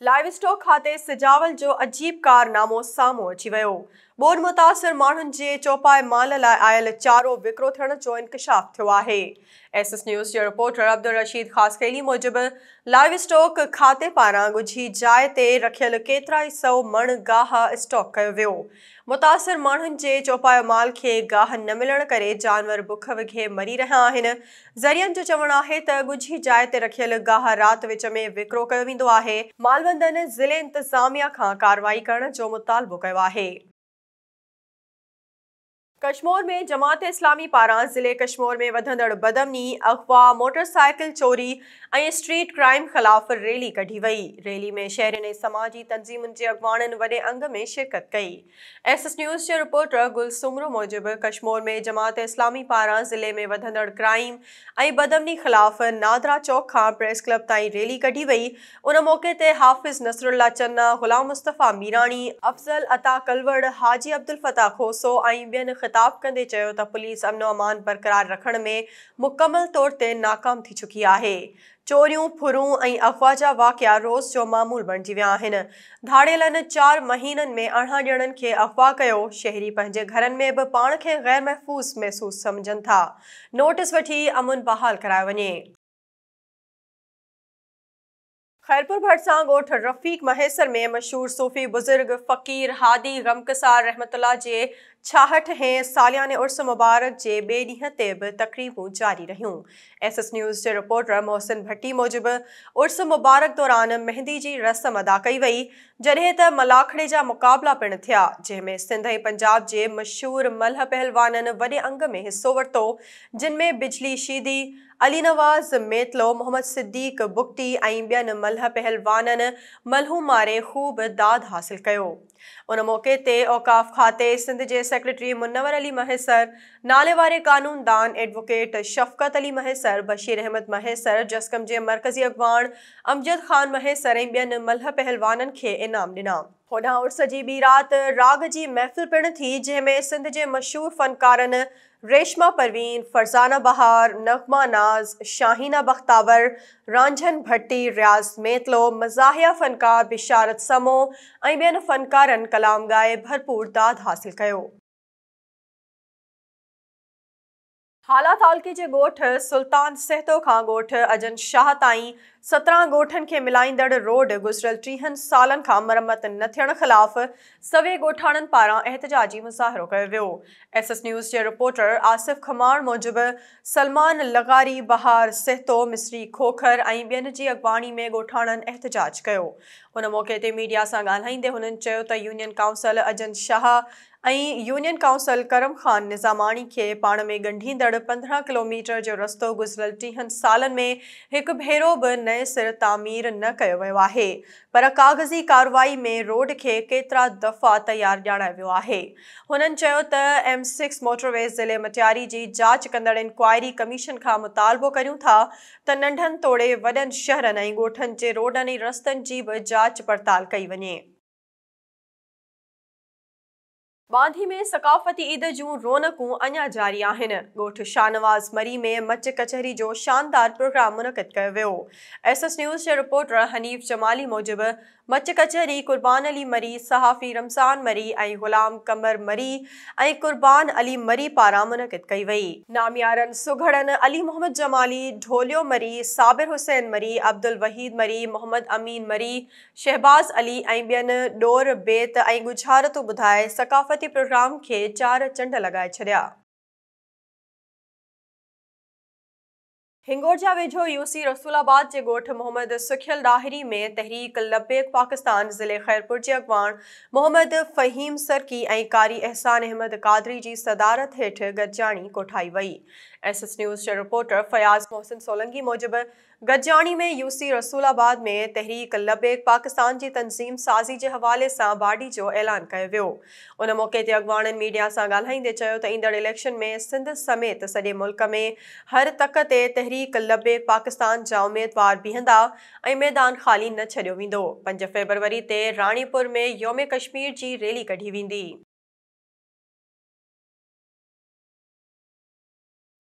Live stock کاتي سجاول جو عجيب ڪارنامو سامهون اچي ويو، ٻوڏ متاثر ماڻهن جي چوپائي مال لاء آيل چارو وڪرو ٿيڻ جو انڪشاف ٿيو آهي. ايس ايس نيوز جي رپورٽر عبدالرشيد خاصخيلي موجب لائيو اسٽاڪ کاتي پاران ڳجهي جاء تي رکيل ڪيترائي سئو مڻ گاهه اسٽاڪ ڪيو ويو متاثر ماڻهن جي چوپايو مال کي گاهه نه ملڻ ڪري جانور بک وگهي مري رهيا آهن ذريعن جو چوڻ آهي ته ڳجهي جاء تي رکيل گاهه رات وچ ۾ وڪرو ڪيو ويندو آهي مالوندن ضلعي انتظاميا کان ڪارروائي ڪرڻ جو مطالبو ڪيو آهي. ڪشمور ۾ جماعت اسلامي پاران ضلعي ڪشمور ۾ وڌندڙ بدامني، اغوا، موٽر سائيڪل چوري ۽ اسٽريٽ ڪرائيم خلاف ريلي ڪڍي وئي، ريلي ۾ شهرين ۽ سماجي تنظيمن جي اڳواڻن وڏي انگ ۾ شرڪت ڪئي. ايس ايس نيوز جي رپورٽر گل سومرو موجب ڪشمور ۾ جماعت اسلامي پاران ضلعي ۾ وڌندڙ ڪرائيم ۽ بدامني خلاف نادرا چوڪ کان پريس ڪلب تائين ريلي ڪڍي وئي ان موقعي تي حافظ نصرالله چنا، غلام مصطفيٰ ميراڻي، افضل عطا ڪلوڙ، حاجي عبدالفتاح کوسو ۽ ٻين خطاب ڪندي چيو ته پوليس امن و امان برقرار رکڻ ۾ مڪمل طور تي ناڪام ٿي چڪي آهي، چوريون، ڦرون ۽ اغوا جا واقعا روز جو معمول بڻجي ويا آهن، ڌاڙيلن چار مهينن ۾ ارڙهن ڄڻن کي اغوا ڪيو، شهري پنهنجي گهرن ۾ به پاڻ کي غير محفوظ محسوس سمجهن ٿا، نوٽس وٺي امن بحال ڪرايو وڃي. خيرپور ڀٽ سان ڳوٺ رفيق مهيسر ۾ مشهور صوفي بزرگ فقير هادي غمگسار رحمت الله جي ڇاهٺ هين سالياني عرس مبارڪ جي ٻئي ڏينهن تي به تقريبون جاري رهيون ايس ايس نيوز جي رپورٽر محسن ڀٽي موجب عرس مبارڪ دوران مهندي جي رسم ادا ڪئي وئي جڏهن ته ملاکڙي جا مقابلا پڻ ٿيا جنهن ۾ سنڌ ۽ پنجاب جي مشهور ملهه پهلوانن وڏي انگ ۾ حصو ورتو جن ۾ بجلي شيدي علي نواز ميتلو، محمد صديق بگٽي ۽ ٻين ملهه پهلوانن ملهون ماري خوب داد حاصل ڪيو. ان موقعي تي اوقاف کاتي سنڌ جي سيڪريٽري منور علي مهيسر، ناليواري قانون دان ايڊووڪيٽ شفقت علي مهيسر، بشير احمد مهيسر، جسقم جي مرڪزي اڳواڻ امجد خان مهيسر ۽ ٻين ملهه پهلوانن کي انعام ڏنا. هوڏانهن عرس جي ٻي رات راڳ جي محفل پڻ ٿي، جنهن ۾ سنڌ جي مشهور فنڪارن ريشما پروين، فرزانه بهار، نغمه ناز، شاهينه بختاور، رانجهن ڀٽي، رياض ميتلو، مزاحيه فنڪار بشارت سمو ۽ ٻين فنڪارن ڪلام ڳائي ڀرپور داد حاصل ڪيو. هالا تعلقي جي ڳوٺ سلطان سهتو کان ڳوٺ اجن شاهه تائين سترهن ڳوٺن کي ملائيندڙ روڊ گذريل ٽيهن سالن کان مرمت نه ٿيڻ خلاف سوين ڳوٺاڻن پاران احتجاجي مظاهرو ڪيو ويو. ايس ايس نيوز جي رپورٽر آصف کماڻ موجب سلمان لغاري، بهار سهتو، مصري کوکر ۽ ٻين جي اڳواڻي ۾ ڳوٺاڻن احتجاج ڪيو. ان موقعي تي ميڊيا سان ڳالهائيندي هنن چيو ته union council Ajnat Shah ۽ union council Karam Khan Nizamani کي پاڻ ۾ ڳنڍيندڙ پندرهن ڪلوميٽر جو رستو گذريل ٽيهن سالن ۾ هڪ ڀيرو به نئين سر تعمير نه ڪيو ويو آهي پر ڪاغذي ڪارروائي ۾ روڊ کي ڪيترا دفعا تيار ڄاڻايو ويو آهي. هنن چيو ته ايم سڪس موٽرويز ضلعي مٽياري جي جاچ ڪندڙ انڪوائري ڪميشن کان مطالبو ڪريون ٿا ته ننڍن توڙي وڏن شهرن ۽ ڳوٺن جي روڊن ۽ رستن جي به جاچ پڙتال ڪئي وڃي. ٻانڌي ۾ ثقافتي عيد جون رونقون اڃا جاري آهن، ڳوٺ شاهنواز مري ۾ مچ ڪچهري جو شاندار پروگرام منعقد ڪيو ويو، ايس ايس نيوز جي رپورٽر حنيف جمالي موجب مچ ڪچهري، قربان علي مري، صحافي رمضان مري ۽ غلام قمر مري ۽ قربان علي مري پاران منعقد ڪئي وئي. ناميارن سگهڙن علي محمد جمالي، ڍوليو مري، صابر حسين مري، عبدالوحيد مري، محمد امين مري، شهباز علي ۽ ٻين ڏور، بيت ۽ ڳجهارتون ٻڌائي ثقافتي پروگرام کي چار چنڊ لڳائي ڇڏيا. هنگورجا ويجهو يو سي رسول آباد جي ڳوٺ محمد سکيل ڏاهري ۾ تحريڪ لبيڪ پاڪستان ضلعي خيرپور جي اڳواڻ محمد فهيم سرڪي ۽ قاري احسان احمد قادري جي صدارت هيٺ گڏجاڻي ڪوٺائي وئي. ايس ايس نيوز جي رپورٽر فياض محسن سولنگي موجب گڏجاڻي ۾ يو سي رسول آباد ۾ تحريڪ لبيڪ پاڪستان جي تنظيم سازي جي حوالي سان باڊي جو اعلان ڪيو ويو. ان موقعي تي اڳواڻن ميڊيا سان ڳالهائيندي چيو ته ايندڙ اليڪشن ۾ سنڌ سميت سڄي ملڪ ۾ هر تڪ تي تحريڪ لبيڪ پاڪستان جا اميدوار بيهندا ۽ ميدان خالي نه ڇڏيو ويندو، پنج فيبروري تي راڻيپور ۾ يوم ڪشمير جي ريلي ڪڍي ويندي.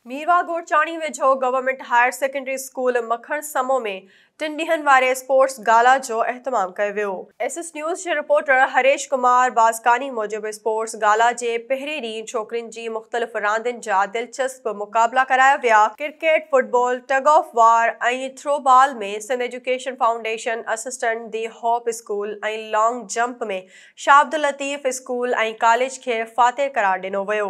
ميرواھ گورچاڻي ويجھو government higher secondary school Makhan Samo ۾ ٽن ڏينهن واري اسپورٽس گالا جو اهتمام ڪيو ويو. ايس ايس نيوز جي رپورٽر هريش ڪمار بازڪاني موجب اسپورٽس گالا جي پهرين ڏينهن ڇوڪرين جي مختلف راندين جا دلچسپ مقابلا ڪرايا ويا، cricket, football, tug of war ۽ throw ball ۾ Sindh education foundation assistant the hope school ۽ long jump ۾ Shah Abdul Latif school ۽ college کي فاتح قرار ڏنو ويو